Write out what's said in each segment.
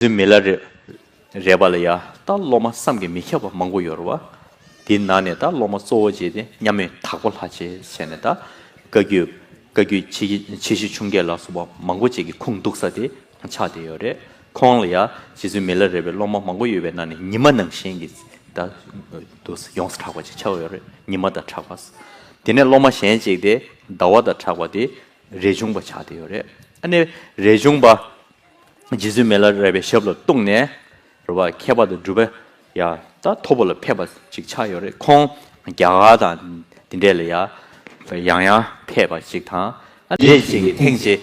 བདུད་མི་ལ་རེ། རས་པ་ལ་ཡ། ད་སློབ་མ་བསམ་གྱིས་མི་ཁྱབ་པ་མང་པོ་ཡོར་བ། དེ་ན་ནས་ད་སློབ་མ་གཙོ་བོ་བྱས་ཏེ་མཉམ་མེད་དྭགས་པོ་ལྷ་བྱས་བྱས་ནས་ད། བཀའ་རྒྱུད། བཀའ་རྒྱུད་ཆེ་གི་ཆེ་བཞི་ཆུང་བརྒྱད་ལ་སོགས་པ་མང་པོ་བཅས་ཀྱི་ཁུངས་གཏུགས་ས་དེ་ཆགས་བསྡད་ཡོར་རེད་ཁོང་ལ་ཡ། རྗེ་བཙུན་མི་ལ་རེ་བའི་སློབ་མ་མང་པོ་ཡོད་པའི་ནང་ནས་ཉི་མ་ནང་བཞིན་གྱི་ད། དུ་ས་ཡོངས་སུ་གྲགས་པ་ཅིག་ཆགས་ཡོར་རེད་ཉི་མ་ད་གྲགས་པ། དེ་ནས་སློབ་མ་གཞན་གཅིག་དེ་ཟླ་བ་ད་གྲགས་པ་དེ། རས་ཆུང་པ་ཆགས་བསྡད་ཡོར་རེད་ཨ་ནི་རས་ཆུང་པ། རྗེ་བཙུན་མེ་ལ་རས་པའི་ཞབས་ལ་གཏུགས་ནས་རུ་བ་ཁྱད་པར་དུ་སྒྲུབ་པ་ཡང་དག་ཐོབ་པ་ལ་ཕེབས་པ་ཅིག་ཆགས་ཡོད་རེད་ཁོང་རྒྱ་གར་དང་འདི་འདྲས་ལ་ཡང་ཡང་ཡང་ཕེབས་པ་ཅིག་དང། རྗེ་བཙུན་གྱིས་ཐེངས་གཅིག་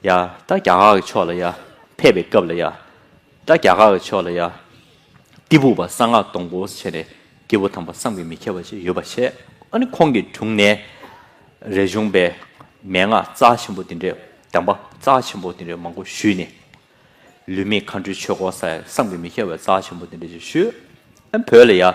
ཡང་དག་རྒྱ་གར་གྱི་ཕྱོགས་ལ་ཡང་ཕེབས་པའི་སྐབས་ལ་ཡང་དག་རྒྱ་གར་གྱི་ཕྱོགས་ལ་ཡང་གཏི་བུག་པ་གསང་སྔགས་སྟོང་པོ་བྱས་ནས་སྐྱེ་བོ་དམ་པ་བསམ་གྱིས་མི་ཁྱབ་པ་ཞིག་ཡོད་པ་བཤད། ཨ་ནི་ཁོང་གི་དྲུང་ནས་རས་ཆུང་པས་མན་ངག་རྩ་ཆེན་པོ་འདི་འདྲའི་གདམས་པ་རྩ་ཆེན་པོ་འདི་འདྲའི་མང་པོ་ཞུས་ནས། ལུས་མེད་མཁའ་འགྲོའི་ཆོས་སྐོར་ས་ཡ་བསམ་གྱིས་མི་ཁྱབ་པའི་རྩ་ཆེན་པོ་འདི་འདྲ་ཞིག་ཞུས། ཨ་ནི་བོད་ལ་ཡང་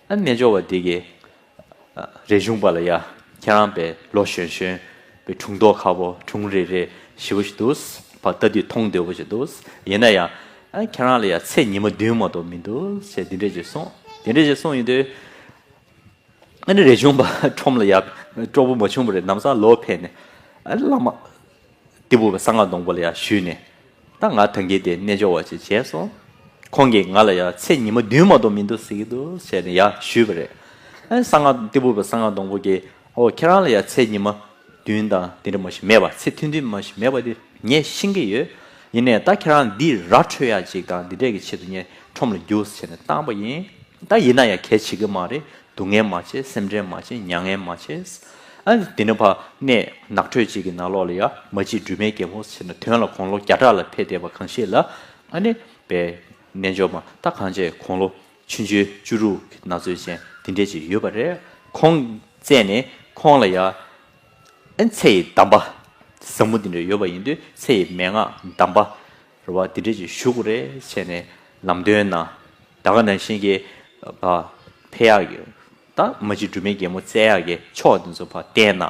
རྣལ་འབྱོར་བ་འདི་གི། རས་གཞུང་པ་ལ་ཡ། ཁྱེད་རང་པའི་ལོ་གཞོན་གཞོན། པའི་དྲུང་དོག་ཁ་བོ་དྲུང་རེ་རེ་ཞི་བོ་ཞིག་འདུག། བ་ལྟ་དུས་མཐོང་འདོད་པོ་ཞིག་འདུག། ཡིན་ན་ཡང། ཁྱེད་རང་ལ་ཡ་ཚེས་ཉི་མ་བདུན་མ་གཏོགས་མི་འདུག་ཅེས་འདི་འདྲས་ཀྱིས་གསུངས། དེ་འདྲས་ཀྱིས་གསུངས་ཡིན་དུས། རས་གཞུང་པ་ཁྲོམ་ལ་ཡ། གྲོགས་པོ་མ་བྱུང་བ་རེད་ནམ་བཟང་ལོ་ཕེབས་ནས། བླ་མ། སྟེགས་བུ་བའི་གསང་སྔགས་སྡོང་པོ་ལ་ཡང་ཞུས་ནས། ད་ང་ཐང་གི་དེ་རྣལ་འབྱོར་བ་ཞིག་བྱས་སོང། ཁོང་གིས་ང་ལ་ཡང་ཚེ་ཉི་མ་བདུན་མ་གཏོགས་མི་འདུག་ཟེར་གྱི་འདུག་བྱས་ནས་ཡང་ཞུས་པ་རེད། ཨ་གསང་སྔགས་སྟེགས་བུ་བའི་གསང་སྔགས་སྡོང་པོ་ཀྱིས་ཨོ་ཁྱེད་རང་ལ་ཡང་ཚེ་ཉི་མ་བདུན་དང་དེ་འདྲ་མ་ཞིག་མེད་པ་ཚེ་ཐུང་ཐུང་མ་ཞིག་མེད་པ་དེ་ངས་ཤེས་ཀྱི་ཡོད། ཡིན་ནས་ད་ཁྱེད་རང་འདི་ར་འཕྲོད་ཡ་ཅིག་དང་འདི་འདྲས་ཀྱི་ཆེད་དུ་ངས་ཁྲོམ་ལ་རྒྱུགས་ཟེར་ནས་བཏང་པ་ཡིན། ད་ཡིན་ན་ཡང་གལ་ཆེ་གི་མ་རེད། སྡུག་བསྔལ་མ་བྱེད་སེམས་ཁྲལ་མ་བྱེད་མྱ་ངན་མ་བྱེད། ཨ། འདི་ནི་བར་གནས་ནགས་ཁྲོད་ཅིག་གི་ནང་ལོགས་ལ་ཡ་མ་གཅིག་སྦྲུལ་མའི་རྒྱལ་པོ་ཆེ་ན་དོན་ལ་དགོང་ལོ་བརྒྱ་ཕྲག་ལ་ཕེབས་བསྡད་པ་གང་ཤེས་ལ། ཨ་ནི། པའི། རྣལ་འབྱོར་མ་ད་གང་བྱས་དགོང་ལོ། ཆུ་མཇོའི་བཅུ་རུ་གི་ན་ཚོད་ཅན་འདི་འདྲས་ཅིག་ཡོད་པ་རེད། ཁོང། བཙས་ནས་ཁོང་ལ་ཡ། ཨ། ཚེ་ཡི་གདམས་པ། ཟབ་མོ་འདི་འདྲས་ཡོད་པ་ཡིན་དུས་ཚེ་ཡི་མན་ངག་གདམས་པ། རུ་བ་འདི་འདྲས་ཀྱི་བཞུགས་རེ་བྱས་ནས་ལམ་སྟོན་ན། ད་ག་ནང་བཞིན་གྱི་བ་ཕེ་ཡག་གི་ད་མ་གཅིག་སྦྲུལ་མའི་རྒྱལ་མོ་བཙལ་ཡག་གི་ཕྱོགས་འདི་ཚོ་བ་བསྟན་ན།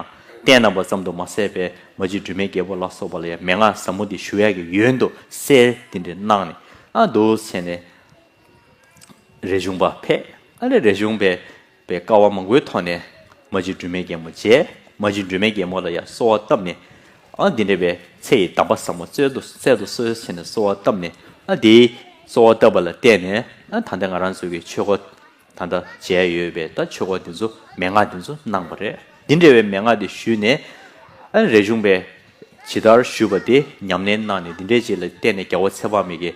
བསྟན་ན་བ་ཙམ་དུ་མ་ཟད་པའི་མ་གཅིག་སྦྲུལ་མའི་རྒྱལ་པོ་ལ་སོགས་པ་ལ་ཡང་མན་ངག་ཟབ་མོ་འདི་ཞུ་ཡག་གི་ཡོན་དུ་གསལ་འདི་འདྲས་གནང་ནས་ཨ་འདུག་བྱས་ནས། རེ་བྱུང་བ་ཕེ་ཨ་རེ་རེ་བྱུང་བས། པའི་དཀའ་བ་མང་པོའི་ཐོག་ནས་མ་གཅིག་སྒྲོལ་མའི་རྒྱལ་མོ་མཇལ། མ་གཅིག་སྒྲོལ་མའི་རྒྱལ་མོ་ལ་ཡང་གསོལ་བ་བཏབ་ནས། ཨ་འདི་འདྲ་བའི་ཚེ་ཡི་གདམས་པ་བཟང་པོ་སྩལ་དུ་གསོལ་ཞེས་ནས་གསོལ་བ་བཏབ་ནས། ཨ་དེའི་གསོལ་བ་བཏབ་པ་ལ་བརྟེན་ནས་ཨ་ད་ལྟ་ང་རང་ཚོ་གི་ཆོས་སྒོ་ད་ལྟ་མཇལ་ཡོད་པས་ད་ཆོས་སྒོ་འདི་ཚོ་མན་ངག་འདི་ཚོ་གནང་བ་རེད། འདི་འདྲ་བའི་མན་ངག་འདི་ཞུས་ནས། ཨ་རེ་གཞུང་པས་ཇི་ལྟར་ཞུས་པ་དེ་ཉམས་ལེན་གནང་ནས་འདི་འདྲའི་རྗེས་ལ་བརྟེན་ནས་རྒྱལ་བོ་ཚེ་དཔག་མེད་ཀྱིས།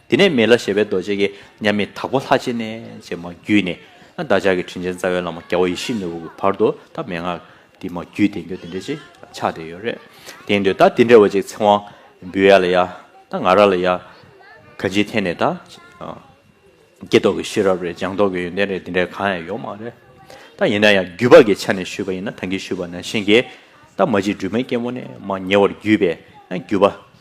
དེ་ནས་མེ་ལ་ཞེས་པའི་རྡོ་རྗེ་ཀྱེ་མཉམ་མེད་དྭགས་པོ་ལྷ་རྗེ་ནས་ཅེས་མ་བརྒྱུད་ནས། བདག་ཅག་གི་དྲིན་ཅན་རྩ་བའི་བླ་མ་རྒྱལ་བ་ཡེ་ཤེས་ནོར་བུ་གྱི་བར་དུ་ད་མན་ངག་འདི་མ་བརྒྱུད་བསྟན་འགྱུར་འདི་འདྲ་ཅིག་ཆགས་བསྡད་ཡོད་རེད་དེང་དུས་ད་འདི་འདྲ་བ་ཅིག་ཚེ་དབང་འབུལ་ཡ་ལ་ཡ་ད་ང་ར་ལ་ཡ། ག་འཇིག་ཐེན་ནས་ད་ཀྱེ་རྟོག་གི་ཤེས་རབ་རེད་སྦྱང་རྟོག་གི་ཡོན་ཏན་རེད་འདི་འདྲ་གང་ཡང་ཡོད་མ་རེད་ད་ཡིན་ན་ཡང་བརྒྱུད་པ་གྱི་ཆ་ནས་ཞུས་པ་ཡིན་ན་ད་གྱིས་ཞུས་པ་ནང་བཞིན་གྱིས་ད་མ་གཅིག་སྦྲུལ་མའི་སྐྱེ་བོ་ནས་མ་ཉེ་བར་བརྒྱུད་པས་ཡང་བརྒྱུད་པ།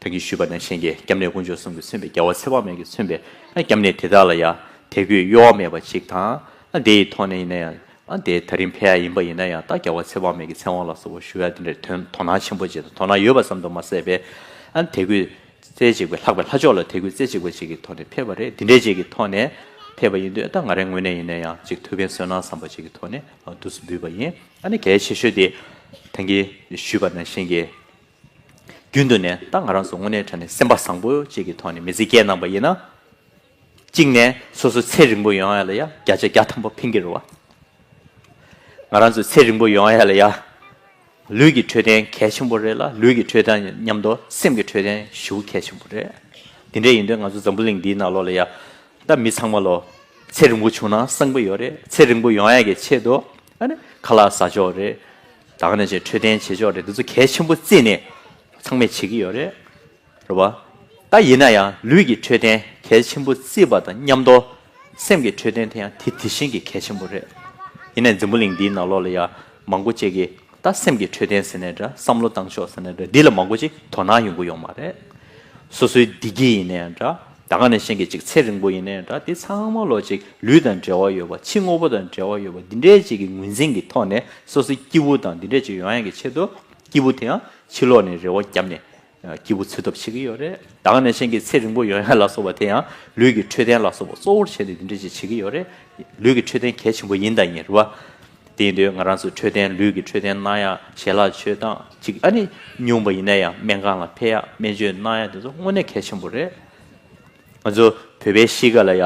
དོན་གྱིས་ཞུས་པ་ན་གཞན་གྱི་སྐྱབས་གནས་དཀོན་མཆོག་གསུམ་གྱིས་མཚོན་པའི་རྒྱལ་བ་ཚེ་དཔག་མེད་ཀྱིས་མཚོན་པའི་སྐྱབས་གནས་དེ་དག་ལ་ཡང་དད་གུས་གཡོ་བ་མེད་པ་ཞིག་དང། དེ་ཡི་ཐོག་ནས་ཡིན་ན་ཡང་དེའི་ད་རིང་ཕལ་ཡང་ཡིན་པ་ཡིན་ན་ཡང་དག་རྒྱལ་བ་ཚེ་དཔག་མེད་ཀྱི་མཚན་དབང་ལ་སོགས་པ་ཞུ་བ་དེ་འདྲའི་དོན་དོ་སྣང་ཆེན་པོ་བྱེད་དང་དོ་སྣང་ཡོད་པ་ཙམ་དུ་མ་ཟད་པའི། དད་གུས་རྩེ་གཅིག་པའི་ལྷག་པའི་ལྷ་མཆོག་ལ་དད་གུས་རྩེ་གཅིག་པ་ཅིག་གི་ཐོག་ནས་ཕེབས་པ་རེད་འདི་འདྲའི་ཅིག་གི་ཐོག་ནས་ཕེབས་པ་ཡིན་དུས་ད་ང་རའི་ངོས་ནས་ཡིན་ན་ཡང་ཅིག་ཐུགས་ཕན་གསོས་གནང་བསམ་པ་ཅིག་གི་ཐོག་ནས་བསྡུ་སུ་འབུལ་བ་ཡིན། གལ་ཆེ་ཤོས་དེ་དོན་གྱིས་ཞུས་པ་ན་གཞན་གྱི་རྒྱུན་དུ་ནས་ད་ང་རང་ཚོ་དངོས་གནས་དྲན་ནས་སེམས་པ་བཟང་པོ་ཅིག་གི་ཐོག་ནས་མི་ཚེ་བསྐྱལ་གནང་བ་ཡིན་ན། གཅིག་ནས་སོ་སོ་ཚེ་རིང་པོ་ཡོང་ཡ་ལ་ཡ་བརྒྱ་ཆ་བརྒྱ་ཐམ་པོ་ཕན་གྱི་རུ་བ། ང་རང་ཚོ་ཚེ་རིང་པོ་ཡོང་ཡ་ལ་ཡ་ལུས་ཀྱི་འཕྲོད་བསྟེན་གལ་ཆེན་པོ་རེད་ལ་ལུས་ཀྱི་འཕྲོད་དང་མཉམ་དུ་སེམས་ཀྱི་འཕྲོད་བསྟེན་ཞུ་གལ་ཆེན་པོ་རེད། དེ་འདྲ་ཡིན་དུས་ང་ཚོ་འཛམ་བུ་གླིང་འདིའི་ནང་ལོག་ལ་ཡ་ད་མི་ཚང་མ་ལོ་ཚེ་རིང་པོ་བྱུང་ན་བསང་པོ་ཡོད་རེད་ཚེ་རིང་པོ་ཡོང་ཡ་གི་ཆེད་དུ་ཨ་ནི་ཁ་ལག་ཟ་ཆོག་རེད། བདག་ནས་ཆེས་འཕྲོད་བསྟེན་བྱེད་ཕྱོགས་རེད་འདི་ཚོ་གལ་ཆེན་པོ་རྩིས་ནས་ཚང་མས་བྱེད་ཀྱི་ཡོད་རེད་རེད་བ། ད་ཡིན་ན་ཡང་ལུས་ཀྱི་འཕྲོད་བསྟེན་གལ་ཆེན་པོ་རྩིས་པ་དང་མཉམ་དུ་སེམས་ཀྱི་འཕྲོད་བསྟེན་དེ་ཡང་དེ་དེ་བཞིན་གྱི་གལ་ཆེན་པོ་རེད། ཡིན་ནས་འཛིན་པོ་གླིང་འདིའི་ནང་ལོགས་ལ་ཡང་མང་པོ་ཅིག་གིས་ད་སེམས་ཀྱི་འཕྲོད་བསྟེན་ཟེར་ནས་འདྲ་བསམ་བློ་བཏང་ཆོག་ཟེར་ནས་འདྲ་འདི་ལ་མང་པོ་ཅིག་དོ་སྣང་ཡོང་གི་ཡོད་མ་རེད། སོ་སོའི་བདེ་སྐྱིད་ཡིན་ནའི་འདྲ། ད་ག་ནས་ཤེས་ཀྱི་ཅིག་ཚེ་རིང་པོ་ཡིན་ནའི་འདྲ་དེ་ཚང་མ་ལོ་ཅིག་ལུས་དང་འབྲེལ་བ་ཡོད་པ་ཕྱི་དངོས་པོ་དང་འབྲེལ་བ་ཡོད་པ་འདི་འདྲའི་ཅིག་གི་ངོས་འཛིན་གྱི་ཐོག་ནས་སོ་སོའི་སྐྱེ་བོ་དང་འདི་འདྲའི་ཅིག་ཡོང་ཡ་གྱི་ཆེད་དུ་སྐྱེ་བོ་དེའང་ཕྱི་ལོག་ནས་རེ་བ་བརྒྱབ་ནས་སྐྱེ་བོ་འཚོལ་ཐབས་བྱེད་ཀྱི་ཡོད་རེད་ད་ག་ནས་ཤེས་ཀྱི་ཚེ་རིང་པོ་ཡོང་ཡ་ལ་སོགས་པ་དེ་ཡང་ལུས་ཀྱི་འཕྲོད་བསྟེན་ལ་སོགས་པ་གཙོ་བོར་བྱས་ནས་འདི་འདྲའི་ཅིག་བྱེད་ཀྱི་ཡོད་རེད་ལུས་ཀྱི་འཕྲོད་བསྟེན་གལ་ཆེན་པོ་ཡིན་དང་ཡིན་རུང་བ། དེ་འདོད་ང་རང་ཚོའི་འཕྲོད་བསྟེན་ལུས་ཀྱི་འཕྲོད་བསྟེན་གནང་ཡག་ཞལ་ལག་མཆོད་སྟངས་ཅིག་ཨ་ནི་ཉུང་བ་ཡིན་ན་ཡང་སྨན་ཁང་ལ་ཕེབས་ཡག་སྨན་བཅོས་གནང་ཡག་དེ་ཚོ་དངོས་གནས་གལ་ཆེན་པོ་རེད། ང་ཚོ་བོད་པའི་གཤིས་ཀ་ལ་ཡ།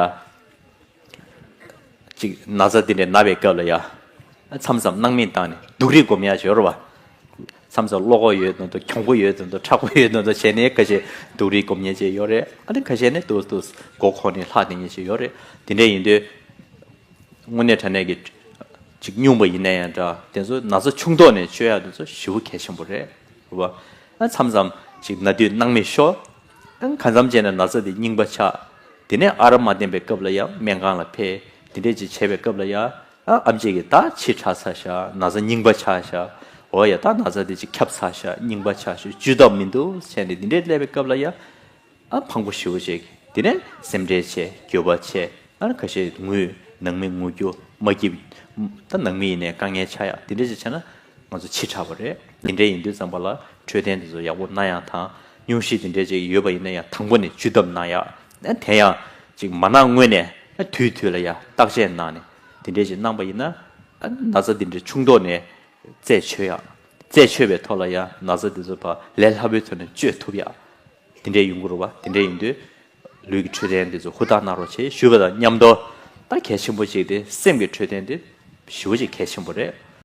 ཅིག་ན་ཚ་དེ་འདྲའི་ན་བའི་སྐབས་ལ་ཡ། མཚམས་མཚམས་སྣང་མེད་བཏང་ནས་སྡུག་རེས་སྒོམ་ཡག་བྱོས་རོགས། མཚམས་མཚམས་བློ་ཁོག་ཡོད་དོན་དུ་གྱོང་པོ་ཡོད་དོན་དུ་ཁྲག་པོ་ཡོད་དོན་དུ་བྱས་ནས་ཁ་ཤས་སྡུག་རེས་སྒོམ་ཉེན་ཅིག་ཡོད་རེད་ཨ་ནི་ཁ་ཤས་ནི་ཏུ་ཏུ་མགོ་འཁོར་ནས་ལྷག་བསྡད་ཉེན་ཅིག་ཡོད་རེད་དེ་འདྲས་ཡིན་དུས། དངོས་གནས་དྲ་གནས་ཀྱི་ཅིག་སྙུང་པ་ཡིན་ན་ཡང་འདྲ་དེ་ཚོ་ན་ཚོ་ཆུང་དོག་ནས་སྤྱོད་ཡག་དེ་ཚོ་ཞི་བོ་གལ་ཆེན་པོ་རེད་རེད་བ། མཚམས་མཚམས་ཅིག་ན་དུས་སྣང་མེད་ཤོག་ག་མཚམས་བཅད་ན་ན་ཚོ་དེ་རྙིང་པ་ཆགས་དེ་ནས་ཨ་རབ་མ་བསྟན་པའི་སྐབས་ལ་ཡང་སྨན་ཁང་ལ་ཕེ་དེ་འདྲས་ཅིག་བྱས་པའི་སྐབས་ལ་ཡ་ཨམ་ཅིག་གི་ད་ཕྱིས་ཁྲག་ཚ་ཤག་ན་ཚོ་རྙིང་པ་ཆགས་ཤག་འོ་ཡ་ད་ན་ཚོ་དེ་ཅིག་ཁབ་ཚ་ཤག་རྙིང་པ་ཆགས་ཤོག་བཅུད་ཐབས་མི་འདུག་བྱས་ནས་དེ་འདྲས་སླེབས་པའི་སྐབས་ལ་ཡ། ཨ་འཕང་པོ་ཞི་བ་ཅིག་དེ་ནས་སེམས་ཁྲལ་ཆེ་འགྱོད་པ་ཆེ་ཨར་ཁ་ཤས་ངུས་ནང་མི་ངུ་རྒྱུ་མ་སྐྱིད། ད་ནང་མི་ཡིན་ནས་དཀའ་ངལ་ཆགས་ཡ་དེ་འདྲས་ཅིག་བྱས་ན་ང་ཚོ་འཆི་དྲགས་པ་རེད་དེ་འདྲས་ཡིན་དུས་རྩམ་པ་ལ་འཕྲོད་བསྟེན་དེ་ཚོ་ཡག་པོ་གནང་ཡ་དང་སྙུང་གཞི་དེ་འདྲས་ཅིག་ཡོད་པ་ཡིན་ན་ཡང་དང་པོ་ནས་བཅུད་བསྡམས་གནང་ཡ་དེ་ཡང་ཅིག་མ་གནང་སྔོན་ནས་དུས་དུས་ལ་ཡ་བརྟག་དཔྱད་གནང་ནས་དེ་འདྲས་ཅིག་གནང་པ་ཡིན་ན་ན་ཚ་དེ་འདྲས་ཆུང་དོག་ནས་རྩད་ཆོད་ཡ་རྩད་ཆོད་པའི་ཐོག་ལ་ཡ་ན་ཚ་དེ་ཚོ་བ་ལས་སླ་པོའི་ཐོག་ནས་བཅོས་ཐུབ་ཡ། དེ་འདྲའི་ཡུལ་འགོ་རུ་བ་དེ་འདྲས་ཡིན་དུས། ལུས་ཀྱི་འཕྲོད་བསྟེན་འདི་ཚོ་ཧུར་ཐག་གནང་རོགས་བྱེད་ཞུ་བ་དང་མཉམ་དུ། ད་གལ་ཆེན་པོ་གཅིག་དེ་སེམས་ཀྱི་འཕྲོད་བསྟེན་འདི་ཞི་བོ་ཆེ་གལ་ཆེན་པོ་རེད།